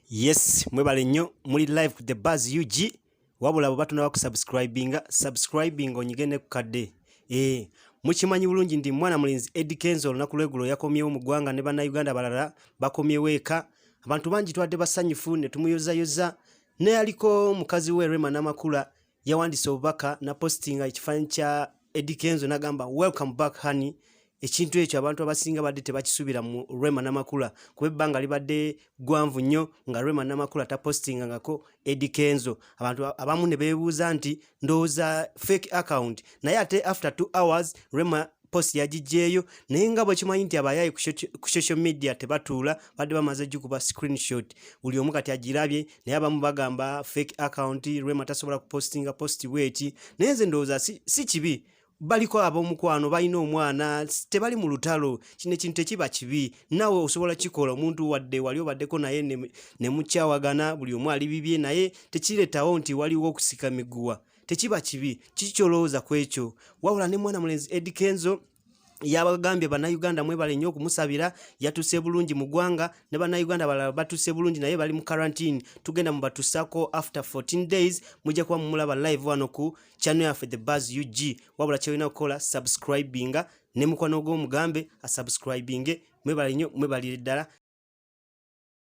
yes mwebale nnyo muli live ku the bas ug wabula abo batunaba kusubscribinga subscribing onyige ne kukadde ee eh, mukimanyi bulungi ndi mwana mulinzi edi kenzo olunaku lwegulo yakomyewo mu ggwanga ne bannayuganda balala bakomyewo eka abantu bangi twadde basanyufu ne tumuyozayoza Neyaliko mukazi we Rema Namakula yawandise obubaka na postinga ekifanyi kya Eddie Kenzo nagamba welcome back honey ekintu ekyo abantu abasinga badde tebakisubira mu Rema Namakula kuba ebbanga libadde gwanvu nnyo nga Rema Namakula tapostinga ngako Eddie Kenzo abantu abamu ne bebuuza nti ndowooza fake account naye ate after 2 hours rema post yagijjeeyo naye nga bwekimanyi nti abayaayi ku social media tebatuula badde bamaze gikuba screenshot buli omu kati agirabye naye abamu bagamba fake account rema tasobola kupostinga post bweti naye nze ndowooza si kibi baliko ab'omukwano balina omwana tebali mu lutalo kino ekintu tekiba kibi naawe osobola kikola omuntu wadde wali obaddeko naye ne mukyawagana buli omu ali bibye naye tekireetawo nti waliwo okusika miguwa tekiba kibi kiki kyolowooza ku ekyo wabula ne mwana mulenzi edi kenzo yabagambye bannayuganda mwebale nnyo okumusabira yatuse bulungi mu ggwanga ne bannayuganda balala batuse bulungi naye bali mu karantine tugenda mubatusako after 14 days mujja kuba mumulaba live wano ku channel yaffe the buzz ug wabula kyolina okukola subscribinga ne mukwano gw'omugambe asubscribinge mwebalinyo mwebalire ddala